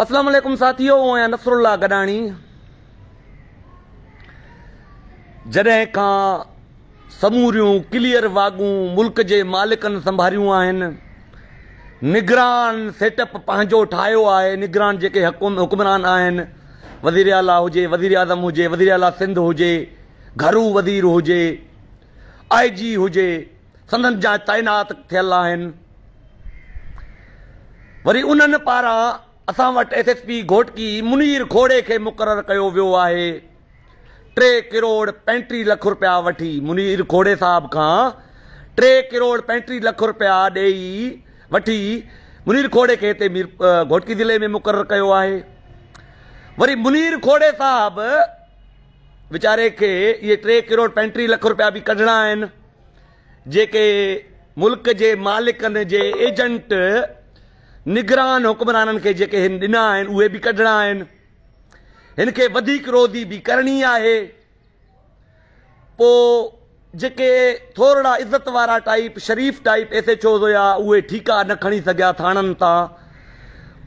اسلام عليڪم ساٿيو او آهيان نصر الله گڏاڻي جڏهن کان سموريون ڪليئر واڳون ملڪ جي مالڪن سنڀاريون آهن نگران سيٽ اپ پنهنجو ٺاهيو آهي نگران جيڪي حڪم حڪمران آهن وزير اعليٰ هجي وزير اعظم هجي وزير اعليٰ سنڌ هجي گهرو وزير هجي آئي جي هجي سندن جاء تعينات ٿيل آهن وري انهن پاران اسان وٽ S S P Ghotki Munir کوڙي کي مقرر ڪيو ويو آهي ٽي ڪروڙ پنٽيهه لک رپيا وٺي منير کوڙي صاحب کان ٽي ڪروڙ پنٽيهه لک رپيا ڏيئي وٺي منير کوڙي کي هتي مير گهوٽڪي ضلعي ۾ مقرر ڪيو آهي وري منير کوڙي صاحب ويچاري کي اهي ٽي ڪروڙ پنٽيهه لک رپيا به ڪڍڻا آهن جيڪي ملڪ جي مالڪن جي ايجنٽ نگران حڪمرانن کي جيڪي هن ڏنا آهن اهي به ڪڍڻا آهن هن کي وڌيڪ روڌي به ڪرڻي آهي پو جيڪي ٿورڙا عزت وارا ٽائپ شريف ٽائپ ايس ايچ اوز هيا اهي ٺيڪا نه کڻي سگهيا ٿاڻن تان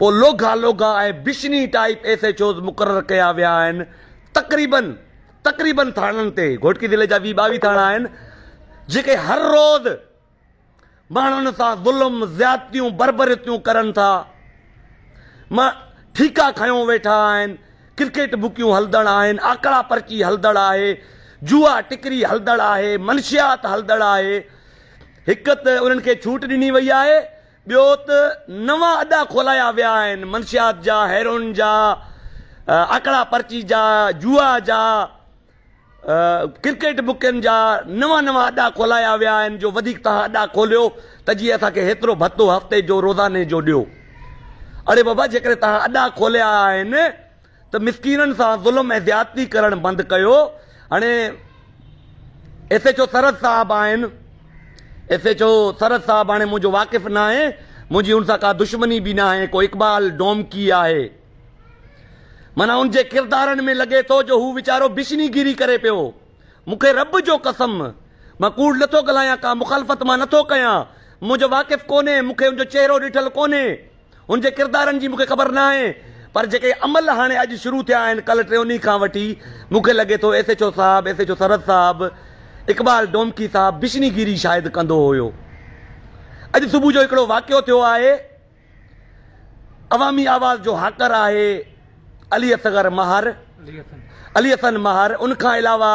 پو لوگا لوگا ۽ بشني ٽائپ ايس ايچ اوز مقرر ڪيا ويا آهن تقريبن تقريبن ٿاڻن تي گهوٽڪي ضلعي جا ويهه ٻاويهه ٿاڻا آهن جيڪي هر روز ماڻهن سان ظلم زيادتيون بربريتيون ڪرن ٿا مان ٺيڪا کنيو ويٺا آهن ڪرڪيٽ بڪيون هلدڙ آهن آڪڙا پرچي هلدڙ آهي جوا ٽڪري هلدڙ آهي منشيات هلدڙ آهي هڪ ته انهن کي ڇوٽ ڏني وئي آهي ٻيو ته نوان اڏا کولايا ويا آهن، منشيات جا، هيروئن جا، آڪڙا پرچي جا، جوا جا، ڪرڪيٽ بڪن جا نوان نوان اڏا کولايا ويا آهن جو وڌيڪ توهان اڏا کوليو ته جي اسان کي هيترو ڀتو هفتي جو روزاني جو ڏيو. اڙي بابا جيڪڏهن توهان اڏا کوليا آهن ته مسڪينن سان ظلم ۽ زيادتي ڪرڻ بند ڪيو هاڻي ايس ايڇ او سرحد صاحب آهن ايس ايڇ او سرحد صاحب هاڻي منهنجو واقف نه آهي منهنجي ان سان ڪا دشمني به نه آهي ڪو اقبال ڊومڪي آهي مانا ان جي ڪردارن ۾ لڳي ٿو جو هو ويچارو بشني گيري ڪري پيو مونکي رب جو قسم مان ڪوڙ نٿو ڳالهايان ڪا مخالفت مان نٿو ڪيان منهنجو واقف ڪونهي مونکي ان جو چهرو ڏٺل ڪونهي هن جي ڪردارن جي مون کي خبر ناهي پر جيڪي عمل هاڻي اڄ شروع ٿيا آهن ڪلهه ٽيوني کان وٺي مون کي لڳي ٿو ايس ايڇ او صاحب ايس ايڇ او سرحد صاحب اقبال ڊومڪي صاحب بشني گيري شايد ڪندو هيو اڄ صبح جو هڪڙو واقعو ٿيو آهي عوامي آواز جو هاڪر آهي علي اصغر مهر علي حسن مهر ان کان علاوه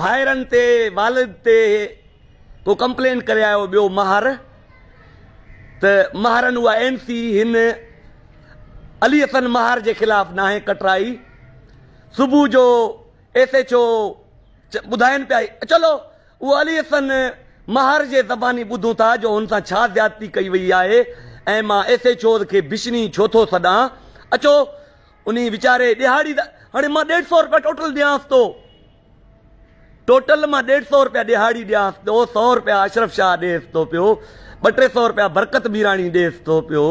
ڀائرن تي والد تي ڪو ڪمپلين ڪري آيو ٻيو ماهر ته ماهرن اها اين سي هن علي حسن ماهر جي خلاف ناهي ڪٽرائي صبح جو ايس ايچ او ٻڌائن پيا چلو اهو علي حسن ماهر جي زباني ٻڌون ٿا جو هن سان ڇا زيادتي ڪئي وئي آهي ۽ مان ايس ايچ او کي بشني ڇو ٿو سڏان اچو انهي ويچاري ڏيهاڙي دا هاڻي مان ڏيڍ سو روپيا ٽوٽل ڏيانس ٿو. ٽوٽل مان ڏيڍ سو روپيا ڏيهاڙي ڏيانس ٿو، سو روپيا اشرف شاهه ڏيس ٿو پيو، ٻه ٽي سو روپيا برڪت ميراڻي ڏيس ٿو پيو،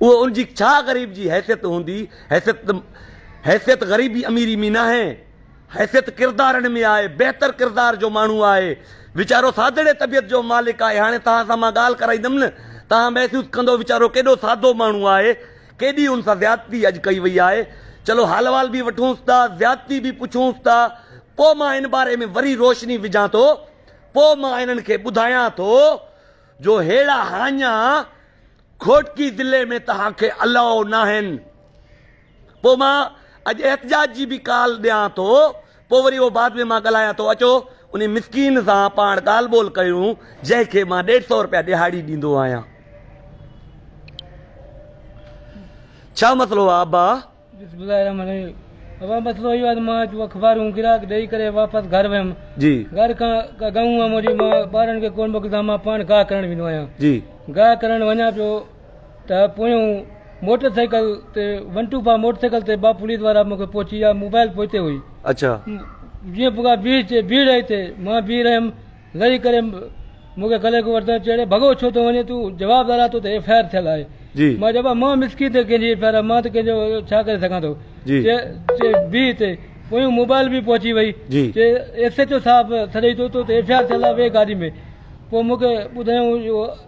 اهو ان جي ڇا غريب جي حيثيت هوندي؟ حيثيت ته حيثيت غريبي اميري ۾ ناهي، حيثيت ڪردارن ۾ آهي، بهتر ڪردار جو ماڻهو آهي، ويچارو سادڙي طبيعت جو مالڪ آهي، هاڻي توهان سان مان ڳالهه ڪرائيندم نه توهان محسوس ڪندو ويچارو ڪيڏو سادو ماڻهو آهي، ڪيڏي ان سان زيادتي اڄ ڪئي وئي آهي. چلو حال احوال به وٺونس ٿا، زيادتي به پڇونس ٿا. پوء مان ان باري ۾ وري روشني وجهان ٿو. پوء مان انهن کي ٻڌايان ٿو جو ههڙا هاڃا گهوٽڪي ضلعي ۾ توهان کي الاؤ ناهن. پوء مان اڄ احتجاج جي به ڪال ڏيان ٿو. پوء وري اهو بعد ۾ مان ڳالهايان ٿو، اچو انهي مسڪين سان پاڻ ڳالهه ٻولهه ڪيون، جنهن کي مان ڏيڍ سؤ رپيا ڏهاڙي ڏيندو آهيان. ڇا مسئلو آهي ابا؟ بسم الله الرحمن الرحيم ابا مسئلو اهو آهي ته مان اچ اخبارون گراهڪ ڏئي ڪري واپس گهر ويم. جي. گهر کان ڪا گئون هئم، وري مان ٻارن کي ڪونه موڪليندو آهيان، مان پاڻ گاهه کرڻ ويندو آهيان. جي. گاهه کرڻ وڃان پيو. ته پويون موٽر سائيڪل تي one two five motorcycle تي ٻه پوليس وارا مون کي پهچي ويا موبائل پوئتي هئي اڇا. جيئن پوکا بيهه چي بيهه رهي تي مان بيهه رهيم لهي ڪري مون کي ڪلهي کان وٺندي چيڙي ڀڳو ڇو ٿو وڃين تون جواب لالا تو تي ايف آء آر ٿيل آهي جي. مان چيو ڀاء مان مسڪين تي ڪنهن جي ايف آء آر آهي مان ته ڪنهن جو ڇا ڪري سگهان ٿو جي. چي چي بيهه تي پويون موبائل به پهچي وئي جي. چي ايس ايڇ او صاحب سڏئي ٿو تو تي ايف آء آر ٿيل آهي ويهه گاڏي ۾ پوء مون کي ٻڌايائون اهو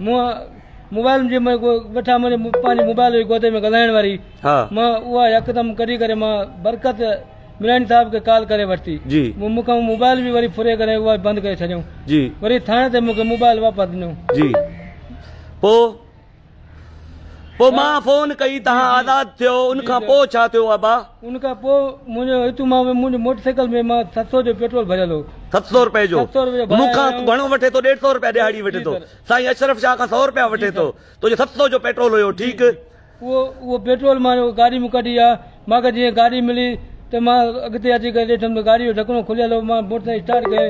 مون موبائل جي ۾ ويٺا منهنجي پنهنجي موبائل هئي گودي ۾ ڳالهائڻ واري ها مان اها يڪدم ڪڍي ڪري مان برڪت ملاني صاحب کي ڪال ڪري ورتي جي مون مونکي موبائل به وري ڦري ڪري اها بند ڪري ڇڏيو جي وري ٿاڻي تي مونکي موبائل واپس ڏنو جي پو پو مان فون ڪئي تها آزاد ٿيو ان کان پو ڇا ٿيو ابا ان کان پوء منهنجو اتو مان به منهنجي موٽر سائيڪل ۾ مان ست سؤ جو پيٽرول ڀريل هو. ست سؤ روپئي جو؟ ست سؤ روپئي جو ڀرائي آيو آهيان. مون کان گهڻو وٺي ٿو ڏيڍ سؤ روپيا ڏيهاڙي وٺي ٿو. سائين اشرف شاهه کان سؤ روپيا وٺي ٿو. تو جو ست سؤ جو پيٽرول هيو ٺيڪ. اهو اهو پيٽرول مان جو گاڏي مون ڪڍي آ مان کي جيئن گاڏي ملي ته مان اڳتي اچي ڪري ڏٺم ته گاڏي جو ڍڪڻو کليل هو مان موٽر سائيڪل اسٽارٽ ڪئي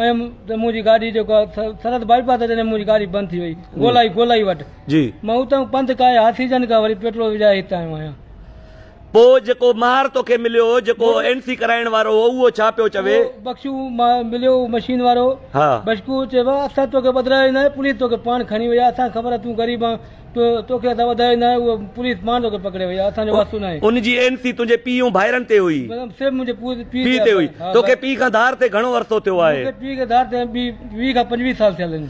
آيم ته منهنجي گاڏي جيڪو آ سرحد بائي پاس اچڻ ۾ منهنجي گاڏي بند ٿي وئي گولائي گولائي وٽ مان اتان پنڌ ڪاهي هاٿيجن کان وري پيٽرول وجهائي هت آيو آهيان. پوء جيڪو مهر توکي مليو، جيڪو اين سي ڪرائڻ وارو هو، اهو ڇا پيو چوي؟ اهو بخشو مهر مليو هو مشين وارو. بشڪو چيو ها اسان توکي وڌرايو ناهي، پوليس توکي پاڻ کڻي وئي آهي، اسان کي خبر آهي تون غريب آن، توکي اسان وڌرايو ناهي، اهو پوليس پاڻ توکي پڪڙي وئي آهي، اسان جو واسطو ناهي. ان جي اين سي تنهنجي پيء ۽ ڀائرن تي هئي. صرف منهنجي پيء تي هئي. توکي پيء کان ڌار ٿئي گهڻو عرصو ٿيو آهي. مون کي پيء کي ڌار ٿئي ويهه کان پنجويهه سال ٿيل آهن.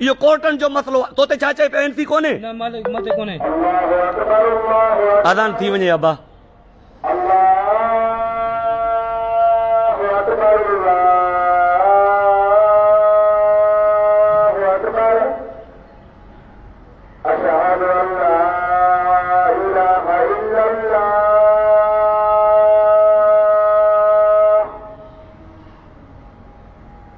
اهو ڪورٽن جو مسئلو آ. تو تي ڇا چئي پيو اين سي ڪونهي. نه مالڪ مون تي ڪونهي. اذان ٿي وڃي ابا.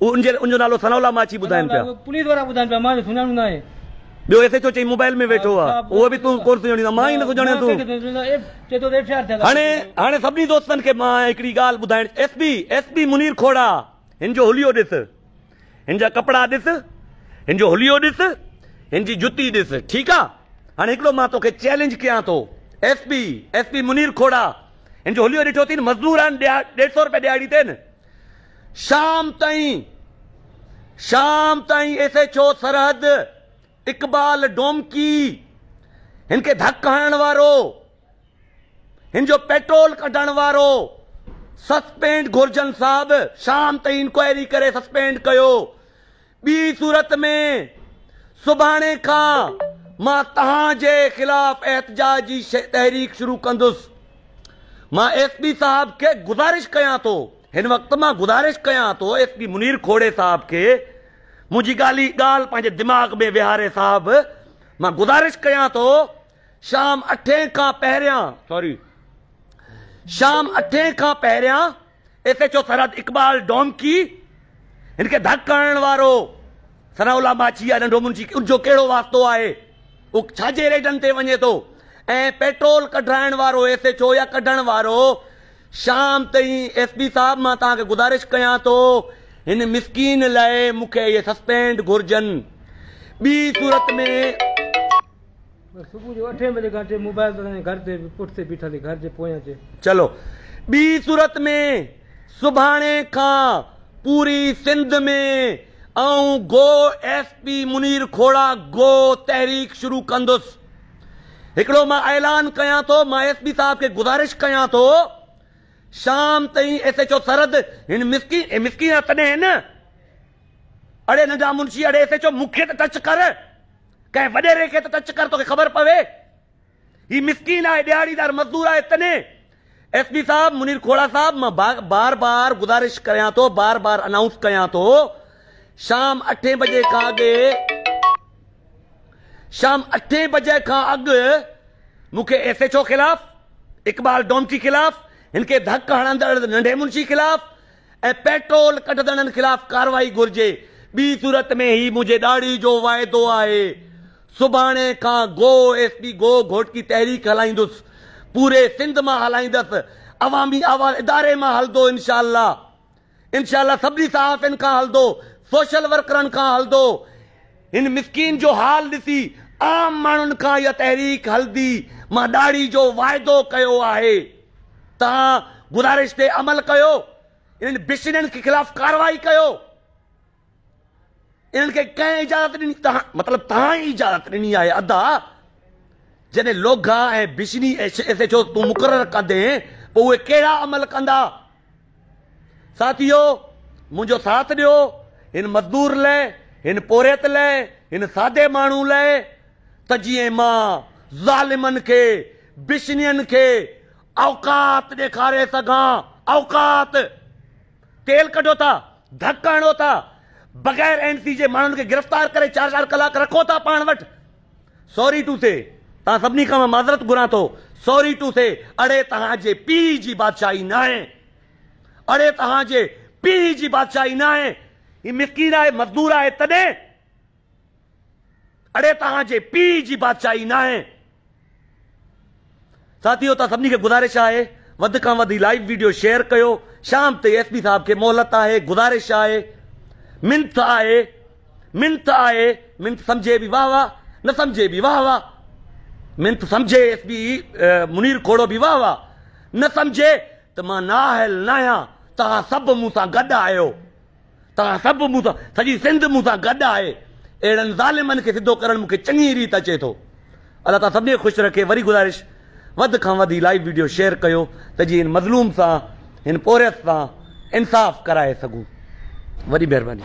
ان جي ان جو نالو ثناء الله ماڇي ٻڌائين پيا. پوليس وارا ٻڌائين پيا مان جو سڃاڻو ناهي. ٻيو ايس ايڇ او چئي موبائل ۾ ويٺو آ اهو به تون ڪون سڃاڻيندو مان ئي نه سڃاڻيان تون. چئي ٿو ته ايف آء آر ٿيل آ. هاڻي هاڻي سڀني دوستن کي مان هڪڙي ڳالهه ٻڌائڻ S P S P Munir Khoro هن جو هليو ڏس هن جا ڪپڙا ڏس هن جو هليو ڏس هن جي جتي ڏس ٺيڪ آ هاڻي هڪڙو مان توکي چئلينج ڪيان ٿو S P S P Munir Khoro هن جو هليو ڏٺو اٿين مزدور آهن ڏيڍ سئو روپيا ڏهاڙي تي آهن. شام تائين شام تائين S H O Sarhad Iqbal Domki هن کي ڌڪ هڻڻ وارو هن جو پيٽرول ڪڍڻ وارو سسپينڊ گهرجن صاحب شام تائين انڪوائري ڪري سسپينڊ ڪيو ٻي صورت ۾ سڀاڻي کان مان توهان جي خلاف احتجاج جي تحريڪ شروع ڪندس. مان ايس پي صاحب کي گذارش ڪيان ٿو هن وقت مان گذارش ڪيان ٿو ايس پي منير کوڙي صاحب کي منهنجي ڳالهي ڳالهه پنهنجي دماغ ۾ ويهاري صاحب مان گذارش ڪيان ٿو شام اٺين کان پهريان سوري شام اٺين کان پهريان S H O Sarhad Iqbal Domki هن کي ڌڪ هڻڻ وارو ثناء الله ماڇي يا ننڍو منشي ان جو ڪهڙو واسطو آهي هو ڇا جي ريڊن تي وڃي ٿو ۽ پيٽرول ڪڍرائڻ وارو ايس ايڇ او يا ڪڍڻ وارو شام تائين ايس پي صاحب مان توهان کي گذارش ڪيان ٿو هن مسڪين لاء مون کي اهي سسپينڊ گهرجن ٻي صورت ۾ صبح جو اٺين بجي کان اچي موبائل تي ۽ گهر تي به پٺ تي بيٺل ئي گهر جي پويان اچي. چلو ٻي صورت ۾ سڀاڻي کان پوري سنڌ ۾ آئون go S P Munir کوڙا go تحريڪ شروع ڪندس. هڪڙو مان اعلان ڪيان ٿو مان ايس پي صاحب کي گذارش ڪيان ٿو شام تائين ايس ايڇ او سرحد هن مسڪين هي مسڪين آ تڏهن نه اڙي ننڍا منشي اڙي ايس ايڇ او مون کي ته ٽچ ڪر. ڪنهن وڏيري کي ته ٽچ ڪر توکي خبر پوي. هي مسڪين آهي ڏهاڙيدار مزدور آهي تنهن ايس پي صاحب منير کوڙا صاحب مان بار بار گذارش ڪريان ٿو بار بار انائونس ڪيان ٿو شام اٺين بجي کان اڳ شام اٺين بجي کان اڳ مون کي ايس ايچ او خلاف اقبال ڊومچي خلاف هن کي ڌڪ هڻندڙ ننڍي منشي خلاف ۽ پيٽرول ڪڍدڙن خلاف ڪارروائي گهرجي ٻي صورت ۾ هي منهنجي ڏاڙهي جو واعدو آهي سڀاڻي کان go S P go Ghotki تحريڪ هلائيندس پوري سنڌ مان هلائيندس عوامي آواز اداري مان هلدو انشاء الله انشاء الله سڀني صحافين کان هلدو سوشل ورڪرن کان هلدو هن مسڪين جو حال ڏسي عام ماڻهن کان اها تحريڪ هلدي مان ڏاڙهي جو واعدو ڪيو آهي. توهان گذارش تي عمل ڪيو انهن بشنين کي خلاف ڪارروائي ڪيو انهن کي ڪنهن اجازت ڏني توهان مطلب توهان ئي اجازت ڏني آهي ادا جڏهن لوگها ۽ بشني ايس ايچ او تون مقرر ڪندي پوء اهي ڪهڙا عمل ڪندا ساٿيو منهنجو ساٿ ڏيو هن مزدور لئه هن پورهيت لئه هن سادي ماڻهو لئه ته جيئن مان ظالمن کي بشنين کي اوقات ڏيکاري سگهان اوقات تيل ڪڍو ٿا ڌڪ هڻو ٿا بغير اين سي جي ماڻهن کي گرفتار ڪري چار چار ڪلاڪ رکو ٿا پاڻ وٽ سوري ٽو سي تان سڀني کان معذرت گهران ٿو سوري ٽو سي اڙي تهان جي پي جي بادشاهي نه آهي اڙي تهان جي پي جي بادشاهي نه آهي هي مسڪين آهي مزدور آهي تڏهن اڙي توهان جي پيء جي بادشاهي ناهي. ساٿيو توهان سڀني کي گذارش آهي وڌ کان وڌ هي لائيو ويڊيو شيئر ڪيو شام تائين ايس پي صاحب کي مهلت آهي گذارش آهي منٿ آهي منٿ آهي منٿ سمجهي به واهه واهه نه سمجهي به واهه واهه منٿ سمجهي ايس پي منير کوڙو به واهه واهه نه سمجهي ته مان نااهل ناهيان توهان سڀ مون سان گڏ آهيو توهان سڀ مون سان، سڄي سنڌ مون سان گڏ آهي. اهڙن ظالمن کي سڌو ڪرڻ مون کي چڱي ريت اچي ٿو. الله تعاليٰ سڀني کي خوش رکي. وري گذارش وڌ کان وڌ هي لائيو وڊيو شيئر ڪيو ته جيئن هن مظلوم سان هن پورهيت سان انصاف ڪرائي سگهون. وڏي مهرباني.